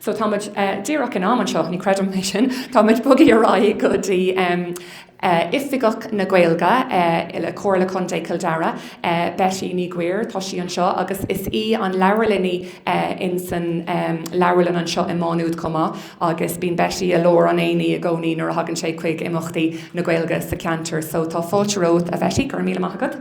so tá muid díreach in am anseo, ní chreidim é sin, tá muid ag bogadh ar aghaidh go dtí Oifigeach na Gaeilge le Comhairle Contae Chill Dara, Beití Nic Uidhir, tá sí anseo agus is í an leabharlannaí in san leabharlann anseo i Má Nuad chomh maith agus bíonn Beití i lár an aonaigh i gcónaí nuair a thagann sé chuig imeachtaí na Gaeilge sa cheantar so tá fáilte romhat a Bheití, go raibh míle maith agat.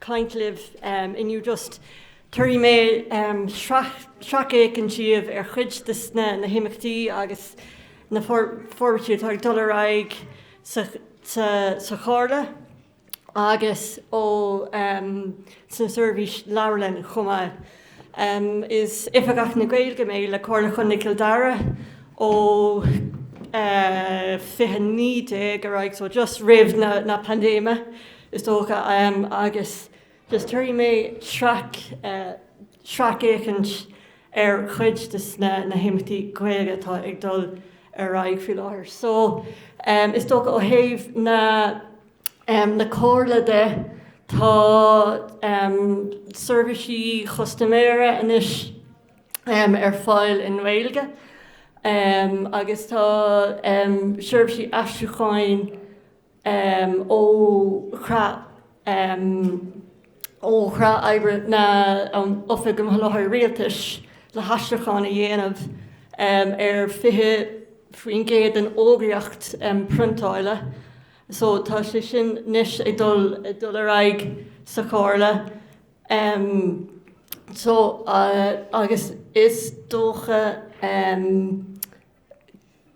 caint libh inniu just tabharfaidh mé sracfhéachaint díbh ar chuid de na himeachtaí agus na forbairtí atá ag dul ar aghaidh sa Chomhairle agus ó sna seirbhísí leabharlainne chomh maith. Is Oifigeach na Gaeilge mé le Comhairle Chontae Chill Dara ó 2019 ar aghaidh so just roimh na paindéime. is dócha, agus just tabharfaidh mé sracfhéachaint ar chuid de na himeachtaí Gaeilge atá ag dul ar aghaidh faoi láthair. So, is dócha ó thaobh na Comhairle de, tá seirbhísí chustaiméara anois ar fáil i nGaeilge agus tá seirbhísí aistriúcháin, ó chreat oibre na hOifige um Sholáthair Rialtais le haistriúchán a dhéanamh ar 20% den fhógraíocht priontáile so tá sé sin anois ag dul ar aghaidh sa Chomhairle so agus is dócha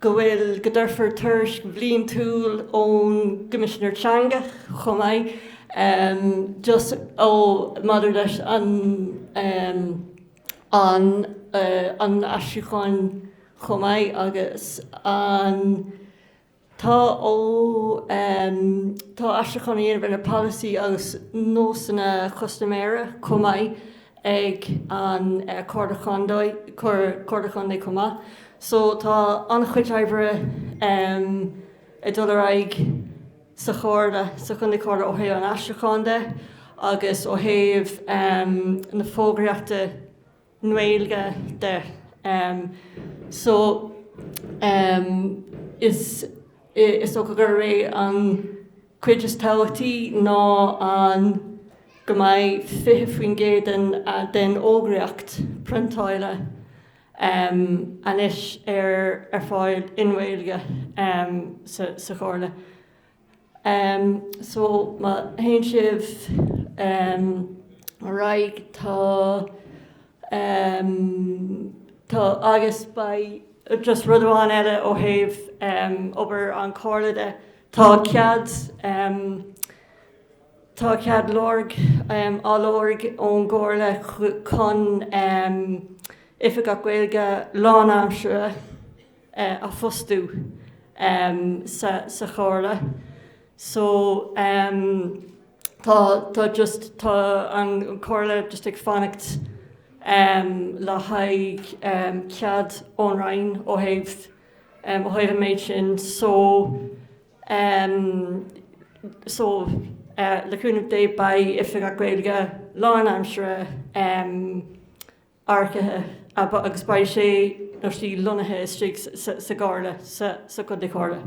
go bhfuil, go dtabharfar tuairisc bhliantúil ón gCoimisinéir Teanga chomh maith just ó maidir leis an an an aistriúcháin chomh maith agus an. Tá um tá aistriúchán á dhéanamh ar na polasaithe agus nósanna custaiméara chomh maith ag an Chomhairle Chontae chomh maith. So tá an-chuid oibre um ag dul ar aghaidh sa Chomhairle, sa Chontae Chomhairle ó thaobh an aistriúcháin de agus ó thaobh um na fógraíochta, Gaeilge de. So is is dócha gurb é an chuid is tábhachtaí ná an go mbeidh 20% den den fhógraíocht priontáile anois ar ar fáil i nGaeilge sa sa Chomhairle. so má théann siad ar aghaidh tá tá agus beidh just rud amháin eile ó thaobh obair an chomhairle de tá cead tá cead lorg á lorg ón gcomhairle chun oifigeach Gaeilge lánaimsire a fhostú sa Chomhairle so tá tá just tá an Comhairle just ag fanacht le haghaidh cead ón Roinn ó thaobh ó thaobh an méid sin so so le cúnamh Dé beidh Oifigeach Gaeilge lánaimsire earcaithe agus beidh sé nó sí lonnaithe istigh sa gComhairle, sa Contae Comhairle.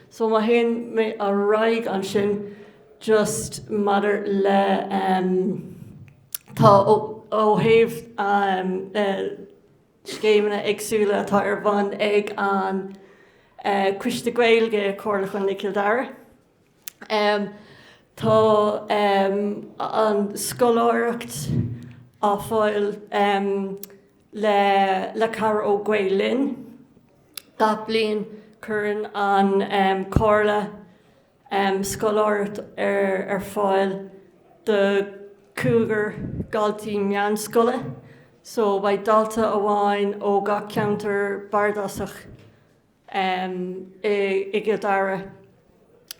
So má théann mé ar aghaidh ansin just maidir le tá ó thaobh scéimeanna éagsúla atá ar bhun ag an Coiste Gaeilge, Comhairle Chontae Chill Dara. Tá an scoláireacht ar fáil le cabhair ó Gael Linn. Gach bliain cuireann an Comhairle scoláireacht ar fáil do chúigear daltaí meánscoile so beidh dalta amháin ó gach ceantar bardasach i gCill Dara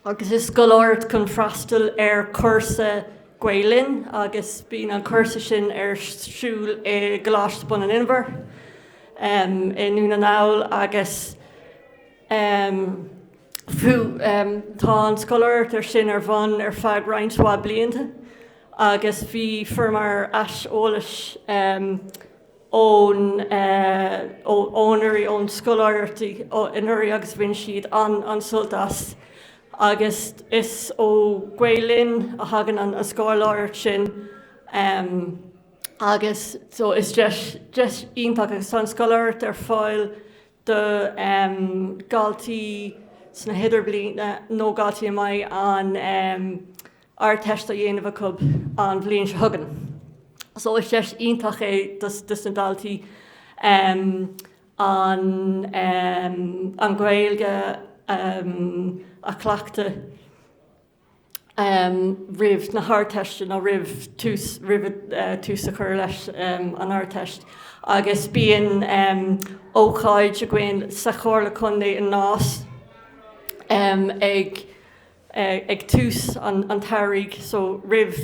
agus is scoláireacht chun freastal ar chúrsa Gael-Linn agus bíonn an cúrsa sin ar siúl i gColáiste Bun an Inbhir i nDún na nGall agus tá an scoláireacht sin ar bhun ar feadh roinnt mhaith blianta agus bhí fíormhaith aiseolas ón anuraidh, ón scoláireachtaí anuraidh agus bhain siad an-sult as agus is ó Gael Linn a thagann an scoláireacht sin agus so is deis iontach agus tá an scoláireacht ar fáil do dhaltaí sna hidirbliana nó daltaí a mbeidh an Ardteist á dhéanamh acu an bhliain seo chugainn. So is deis iontach é dos na daltaí an Gaeilge a chleachtadh roimh na hArdteiste nó roimh tús a chur leis an Ardteist agus bíonn ócáid againn sa Chomhairle Contae i Nás ag ag tús an tsamhraidh, so roimh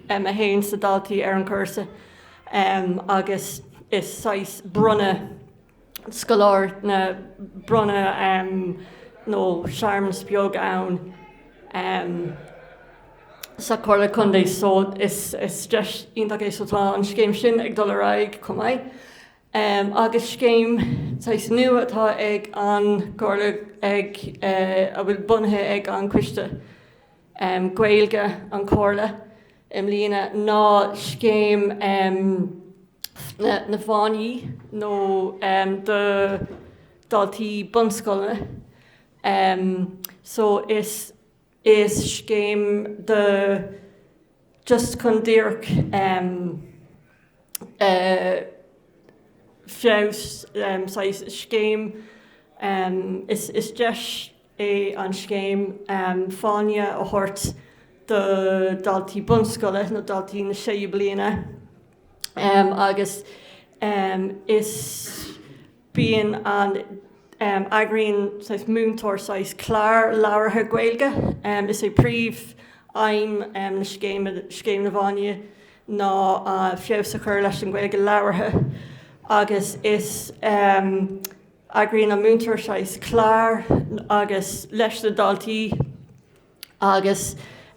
a théann na daltaí ar an chúrsa, agus is saghas bronnadh scoláire, na bronnadh nó searmanas beag ann sa Chomhairle Contae, so is deis iontach é, so tá an scéim sin ag dul ar aghaidh chomh maith. em, agus scéim saghas nua atá ag an gComhairle ag eh, a bhfuil bunaithe ag an Coiste em, Gaeilge an Chomhairle i mbliana ná scéim em, na, na fáinní nó em, do daltaí bunscoileanna. Em, so is. Is scéim do just chun díreach feabhas saghas scéim is deis é an scéim fáinne a thabhairt do daltaí bunscoile nó daltaí na séú bliana agus is bíonn an, eagraíonn saghas múinteoir saghas clár labhartha Gaeilge. Is é príomhaidhm na scéime, Scéim na bhFáinní, ná feabhas a chur leis an Ghaeilge labhartha agus is, eagraíonn an múinteoir saghas clár agus, leis na daltaí agus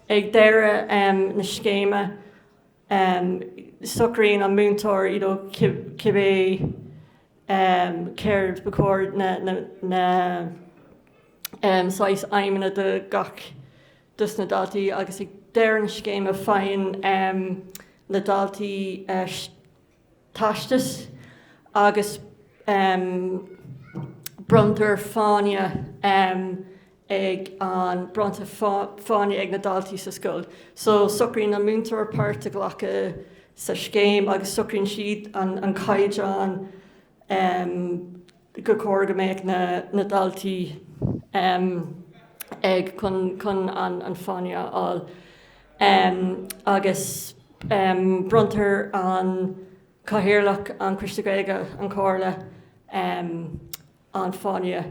ag deireadh na scéime, em socraíonn an múinteoir you know cibé em céard ba chóir na na na em saghas aidhmeanna do gach dos na daltaí agus ag deireadh na scéime faigheann em na daltaí eh teastas agus bronntar fáinne ag an bronntar fáinne ag na daltaí sa scoil. So socraíonn an múinteoir páirt a ghlacadh sa scéim agus socraíonn siad an caighdeán em, gur chóir go mbeadh na, na daltaí, em, ag, chun, chun an, an fáinne a fháil. Em, agus, em, bronntar an Cathaoirleach, an Coiste Gaeilge, an Chomhairle, em, an fáinne.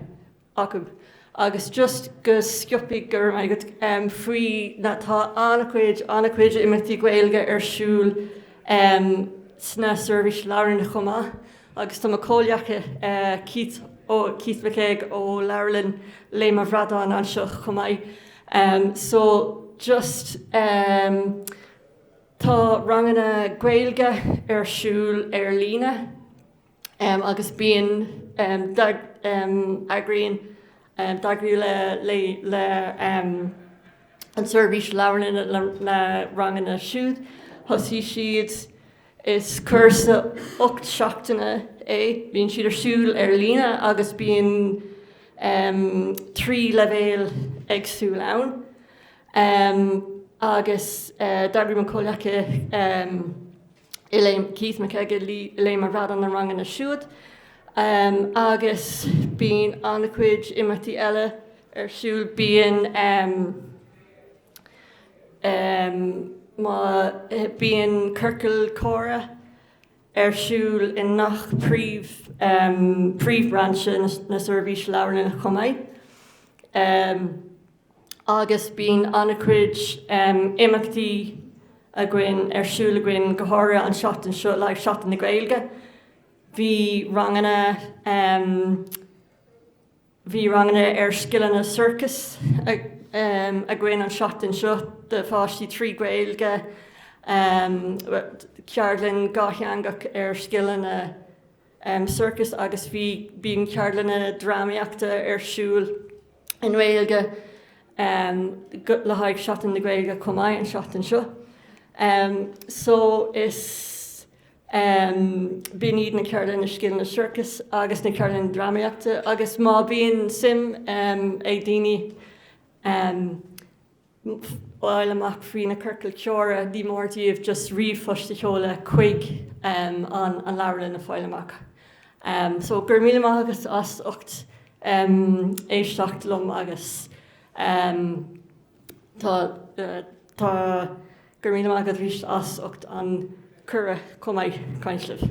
acu. Agus just go sciobtha go raibh maith agat faoi na, tá an-chuid, an-chuid imeachtaí Gaeilge ar siúl sna seirbhís leabharlainne chomh maith agus tá mo chomhghleacaí Keith, Keith McKeag ó Leabharlann Léim an Bhradáin anseo chomh maith so just tá ranganna Gaeilge ar siúl ar líne. agus bíonn eagraíonn d'eagraíodh leis an tseirbhís leabharlainne na ranganna siúd. Thosaigh siad Is cúrsa ocht seachtaine é, bíonn siad ar siúl ar líne agus bíonn trí leibhéal éagsúil ann. Agus d'eagraigh mo chomhghleacaí. Keith McKeag Léim an Bhradáin na ranganna siúd agus bíonn an-chuid imeachtaí eile ar siúl. Bíonn bíonn ciorcal comhrá ar siúl i ngach príomh príomhbhrainse na Seirbhíse Leabharlainne chomh maith. agus bíonn an-chuid imeachtaí againn ar siúl againn go háirithe an seachtain seo le haghaidh Seachtain na Gaeilge. Bhí ranganna, bhí ranganna ar scileanna sorcais againn an seachtain seo do pháistí trí Ghaeilge, ceardlann dhátheangach ar scileanna, circus agus bhí, bíonn ceardlanna drámaíochta ar siúl i nGaeilge le haghaidh Seachtain na Gaeilge chomh maith an seachtain seo. So is, bíonn iad na ceardlanna scileanna circus agus na ceardlanna drámaíochta agus má bhíonn suim ag daoine, fáil amach faoi na ciorcail chomhrá, ní mór dóibh just ríomhphost a sheoladh chuig an leabharlann le fáil amach. So, go raibh míle maith agat as ucht éisteacht liom agus tá tá go raibh míle maith agat arís as ucht an cuireadh chomh maith caint libh.